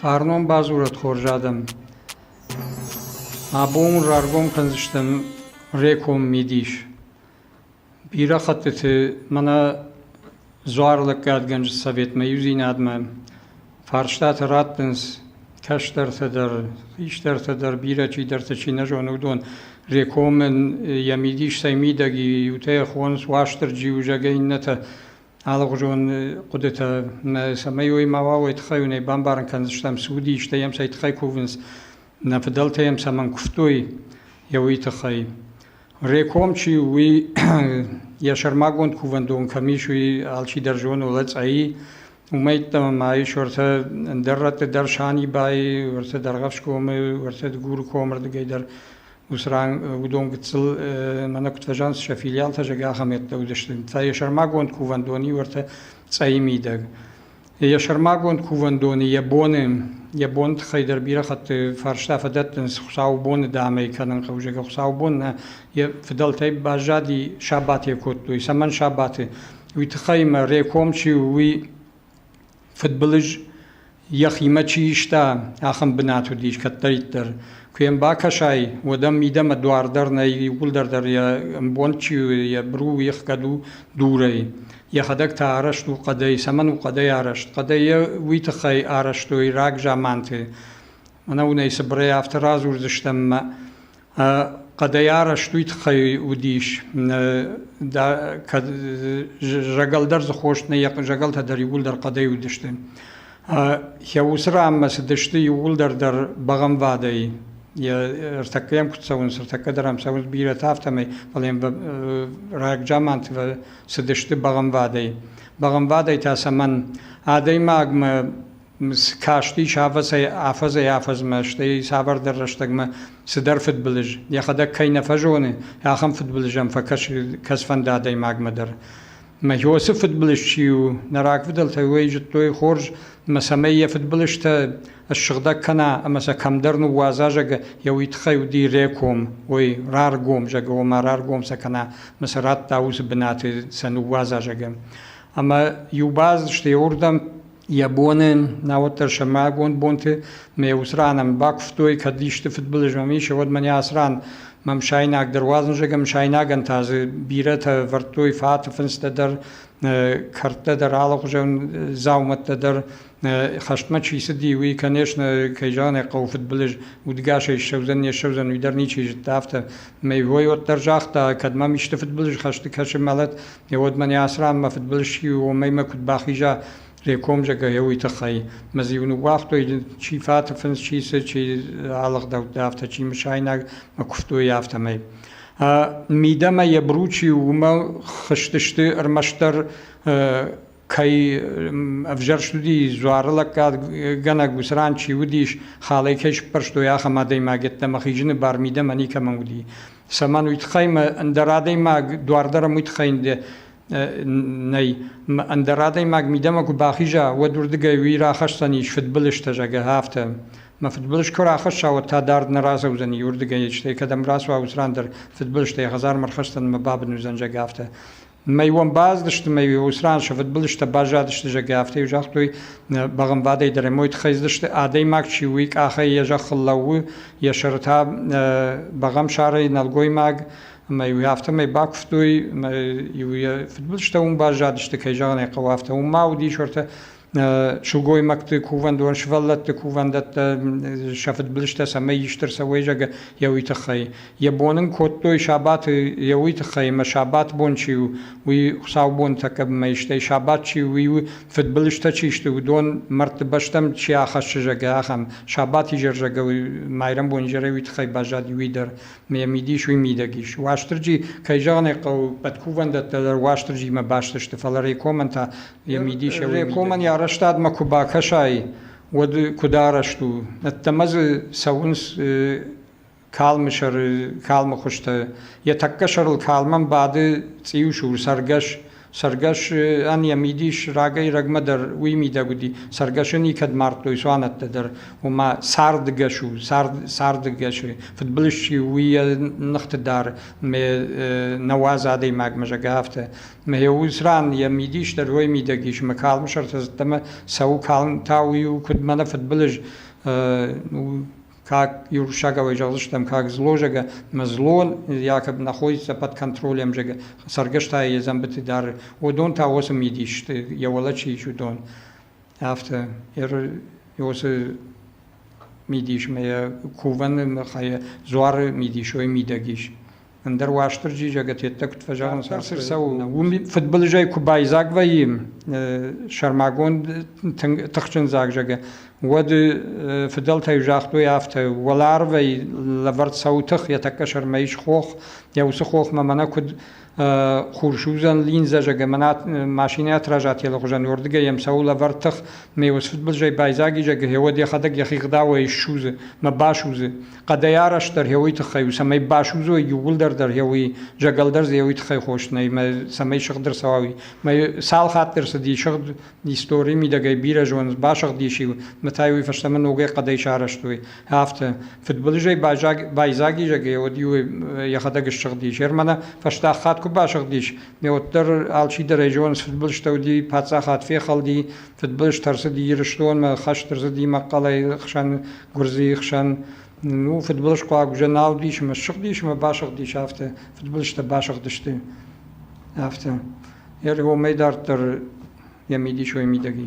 Фарнон бадзурӕд хорз адӕм! Абон раргом кӕндзыстӕм Реком мидис. Бирӕ хӕттыты мӕнӕ дзуарлӕггадгӕнджы советмӕ иудзинадмӕ фарстатӕ раттынц кӕстӕртӕ дӕр, хистӕртӕ дӕр, бирӕ чидӕртӕ чи нӕ зоны, уыдон. Рекомӕн йӕ мидис цӕй мидӕг и, иутӕ йӕ хонынц Уастырджи у, зӕгъгӕ, иннӕтӕ алыгъуызон хъуыдытӕ. Мӕ цӕмӕй уой мауал, уой тыххӕй уын ӕй бамбарын кӕндзыстӕм, цы уыди, стӕй йӕм цӕй тыххӕй кувынц, нӕ фыдӕлтӕ йӕм цӕмӕн куывтой, йӕ уый тыххӕй. Реком чи у, уый йӕ сӕрмагонд кувӕндон кӕм ис, уый алчидӕр зоны Лӕцъӕйы. Уымӕй ӕддӕмӕ ма ис уӕртӕ ӕндӕр рӕтты дӕр Санибайы, уӕртӕ Дӕргъӕфсгомы, уӕртӕ Дыгуры комы рдыгӕй дӕр уыцы ран уыдон гыццыл мӕнӕ куыд фӕзӕгъынц, сӕ филиалтӕ зӕгӕ ахӕмӕйттӕ уыдысты. Та йӕ сӕрмагонд кувӕндон и уӕртӕ Цъӕйы мидӕг. Йӕ сӕрмагонд кувӕндоны йӕ боны, йӕ боны тыххӕй дӕр бирӕ хатты фарста фӕдӕттынц Хуыцаубоны дӕмӕ кӕнын хъӕуджӕ. Хуыцаубон нӕ йӕ фыдӕлтӕй баззади, сабатӕ кодтой. Цӕмӕн сабаты? Уый тыххӕй ӕмӕ Реком чи у, уый фыдбылыз йӕхимӕ чи иста, ахӕм бынат уыдис кӕддӕриддӕр. Куы йӕм бакӕсай, уӕд ӕм мидӕмӕ дуар дӕр нӕй, иууылдӕр дӕр йӕ ӕмбонд чи у, йӕ быру, йе хгӕд у дурӕй. Йӕхӕдӕг та арӕзт у хъӕдӕй. Цӕмӕн у хъӕдӕй арӕзт? Хъӕдӕй йӕ уый тыххӕй арӕзтой рагзаманты. Ӕнӕуынӕй цыбырӕй афтӕ радзурдзыстӕм ӕмӕ хъӕдӕй арӕзт уый тыххӕй уыдис. Кӕд зӕгӕлдӕр дзы хост нӕй, йӕ зӕгӕлтӕ дӕр иууылдӕр хъӕдӕй уыдысты. Йӕ уыцы ранмӕ цыдысты иууылдӕр дӕр бӕгъӕмвадӕй. Ӕртӕккӕ йӕм куыд цӕуынц, ӕртӕккӕ дӕр ӕм цӕуынц бирӕтӕ, афтӕмӕй, фӕлӕ йӕм рагзаманты цыдысты бӕгънвадӕй. Бӕгънвадӕй та цӕмӕн? Адӕймагмӕ касти сафӕцӕй афӕдзӕй-афӕдзмӕ, стӕй цавӕрдӕр рӕстӕгмӕ цыдӕр фыдбылыз, йӕхӕдӕг кӕй нӕ фӕзоны, ахӕм фыдбылызӕн фӕкӕсфӕнды адӕймагмӕ дӕр. Мӕ Иосы фыдбылыз чи у, нӕ рагфыдӕлтӕ уый зыдтой хорз, ӕмӕ цӕмӕй йӕ фыдбылызтӕ ссыгъдӕг кӕна ӕмӕ сӕ кӕмдӕр ныууадза, зӕгъы, йӕ уый тыххӕй уыди реком, ой, раргом, зӕгъы, ома раргом сӕ кӕна, мӕ сӕ радта уыцы бынаты сӕ ныууадза, зӕгъы. Ӕмӕ иу баз сты уырдӕм йӕ боны, науӕддӕр сӕрмагонд бонты мӕ уыцы ранӕм бакуывтой, кӕд исты фыдбылыз мӕм ис, уӕд мӕ ацы ран мӕм сайнаг дӕр уадзын, зӕгъӕм, сайнагӕн та дзы бирӕтӕ вӕрдтой фаты фындзтӕ дӕр, кӕрдтӕ дӕр, алыхуызон дзаумӕттӕ дӕр, хӕстмӕ чи цыди, уый, конечно, кӕй зӕгъын ӕй хъӕуы фыдбылыз, удгасӕй ссӕудзӕн, не ссӕудзӕн, уый дӕр ничи зыдта афтӕ. Мӕй вой уӕддӕр загъта, кӕд мӕм исты фыдбылыз хӕсты кӕсы мӕлӕт, уӕд мӕ не асрам, мӕ фыдбылыз чи у, уымӕй мӕ куыд бахиза, реком зӕгӕйӕ, уый тыххӕй. Мӕ зиу ныууагътой, чи фаты фындз, чи цы, чи алыгъдӕуттӕ, афтӕ, чи мысайнаг мӕ куывтой, афтӕмӕй. Мидӕмӕ йӕ Бручи уымӕ хызтысты ӕрмӕстдӕр кӕй ӕвзӕрст уыди дзуары лӕггадгӕнӕг уыцы ран чи уыдис, халӕй кӕй сыппӕрстой ахӕм адӕймаг йеддӕмӕ хизыны бар мидӕмӕ никӕмӕн уыди. Цӕмӕн уый тыххӕй мӕ ӕндӕр адӕймаг дуар дӕр уый тыххӕй нӕй. Ӕндӕр адӕймаг мидӕмӕ куы бахиза, уӕд уырдыгӕй уый рахӕсдзӕнис фыдбылызтӕ, зӕгъы афтӕ. Мӕ фыдбылыз куы рахӕсса, уӕд та дард нӕ разӕудзӕни уырдыгӕй, стӕй кӕдӕм рацуа, уыцы ран дӕр фыдбылызтӕй хӕдзармӕ рхӕсдзӕн ӕмӕ бабын уыдзӕн, зӕгъы афтӕ. Мӕй уӕм базыдысты, мӕй уыцы ран сӕ фыдбылызтӕ баззадысты, зӕгъгӕ, афтӕ иу загътой бӕгъӕмвадӕй дӕр, мой тыххӕй дзырдысты, адӕймаг чи у, уый къахӕй йӕ зӕххыл лӕууы, йӕ сӕры та бӕгъӕмсарӕй нӕлгоймаг, ӕмӕ-иу афтӕмӕй бакуывтой, ӕмӕ-иу йӕ фыдбылызтӕ уым баззадысты, кӕй зӕгъын ӕй хъӕуы, афтӕ уым ма уыдис уӕртӕ сылгоймӕгты кувӕндон, сывӕллӕтты кувӕндӕттӕ сӕ фыдбылызтӕ цӕмӕй исты рцӕуой, зӕгъы йӕ уый тыххӕй. Йӕ бон ын кодтой сабаты йӕ уый тыххӕй, ӕмӕ сабат бон чи у, уый хуыцаубонтӕ кӕмӕй, стӕй сабат чи у, уый у, фыдбылызтӕ чи сты, уыдон мӕрдты бӕстӕм чи ахӕссы, зӕгъы, ахӕм. Сабат изӕр, зӕгъы, майрӕмбон изӕрӕй уый тыххӕй баззад иуи дӕр, ӕмӕ йӕ мидис уый мидӕг ис. Уастырджи, кӕй зӕгъын ӕй хъӕуы, пӕт кувӕндӕттӕ дӕр Уастырджимӕ баст сты, фӕлӕ Рекомӕн та Йӕ мидисӕуыл Рекомӕн йӕ арӕзтадмӕ куы бакӕсай, уӕд куыд арӕзт у? Ӕддӕмӕ дзы цӕуынц калмы сӕры калмы хуызтӕ. Йӕ тӕккӕ сӕрыл калмӕн бады цъиусур цӕргӕс. Цӕргӕсӕн йӕ мидис рагӕй-рагмӕ дӕр уый мидӕг уыди. Цӕргӕсы никӕд мардтой цуанӕттӕ дӕр, ома цардгӕс у, цард цардгӕсы. Фыдбылыз чи у, уый йӕ ныхты дӕр нӕуӕдз адӕймагмӕ, зӕгӕ, афтӕ. Мӕ уыд ран йӕ мидис дӕр уой мидӕг ис, мӕ калмы сӕртӕ зӕдтӕмӕ цӕуы калм, та уый у куыд мӕнӕ фыдбылыз, как юрсагавай зӕгъдзыстӕм, как зло зӕгӕ, мӕ злон якоб находится под контролем зӕгӕ, цӕргӕстӕй йӕ зӕмбыты дары, уыдон та уыцы мидис йӕ уӕлӕ чи ис, уыдон. Афтӕ, уыцы мидис мӕ кувӕны мыхайы дзуары мидис уой мидӕг ис. Ӕндӕр Уастырджи зӕгӕтеттӕ куыд фӕзӕгъынц, цы рцӕуы, уым фыдбылызӕй куы байдзаг вӕййы сӕрмагонд тыхджын дзаг зӕгӕ, уӕд фыдӕлтӕй загътой афтӕ, уӕларвӕй лӕвӕрд цӕуы тых, йӕ тӕккӕ сӕрмӕ ис хох, йӕ уыцы хохмӕ мӕнӕ куыд хурсудзӕн линзӕ зӕгӕ мӕнӕ машинӕты разӕтелы хуызӕн уырдыгӕй йӕм цӕуы лӕвӕрд тых, мӕ уыцы фыдбылызӕй байдзаг и зӕгӕ, гъеуӕд йӕхӕдӕг йӕхи гъдауӕй ссудзы, мӕ басудзы. хъӕдӕй арӕзтдӕр еуи туххӕй у, цӕмӕй басудзой иууылдӕр дӕр еуи, зӕгӕлдӕр дзы еуи туххӕй хос нӕй, мӕ цӕмӕй сыгъд ӕрцӕуа, уый. Мӕ цал хатт ӕрцыди сыгъд истори мидӕгӕй бирӕ зоны, басыгъдис иу, мӕ та уый фӕстӕмӕ ногӕй хъӕдӕй сарӕзтой, афтӕ. Фыдбылызӕй байзагизӕгӕй уӕд-иу йӕхӕдӕг ссыгъдис. Ермана фӕстаг хатт куы басыгъдис, мӕ уӕддӕр алчидӕрӕй зоныс, фыдбылызтӕ уыди, паддзахад фехӕлди, фыдбылыз ӕрцыди Ирыстонмӕ, хӕст ӕрцыди мӕхъхъӕлӕй хсӕн гуырдзыйы хсӕн ну, фыдбылызхъуаг уже нал уыдис ӕмӕ ссыгъдис ӕмӕ басыгъдис афтӕ, фыдбылызтӕ басыгъдысты афтӕ. Йӕ уымӕй дарддӕр йӕ мидис уой мидӕги.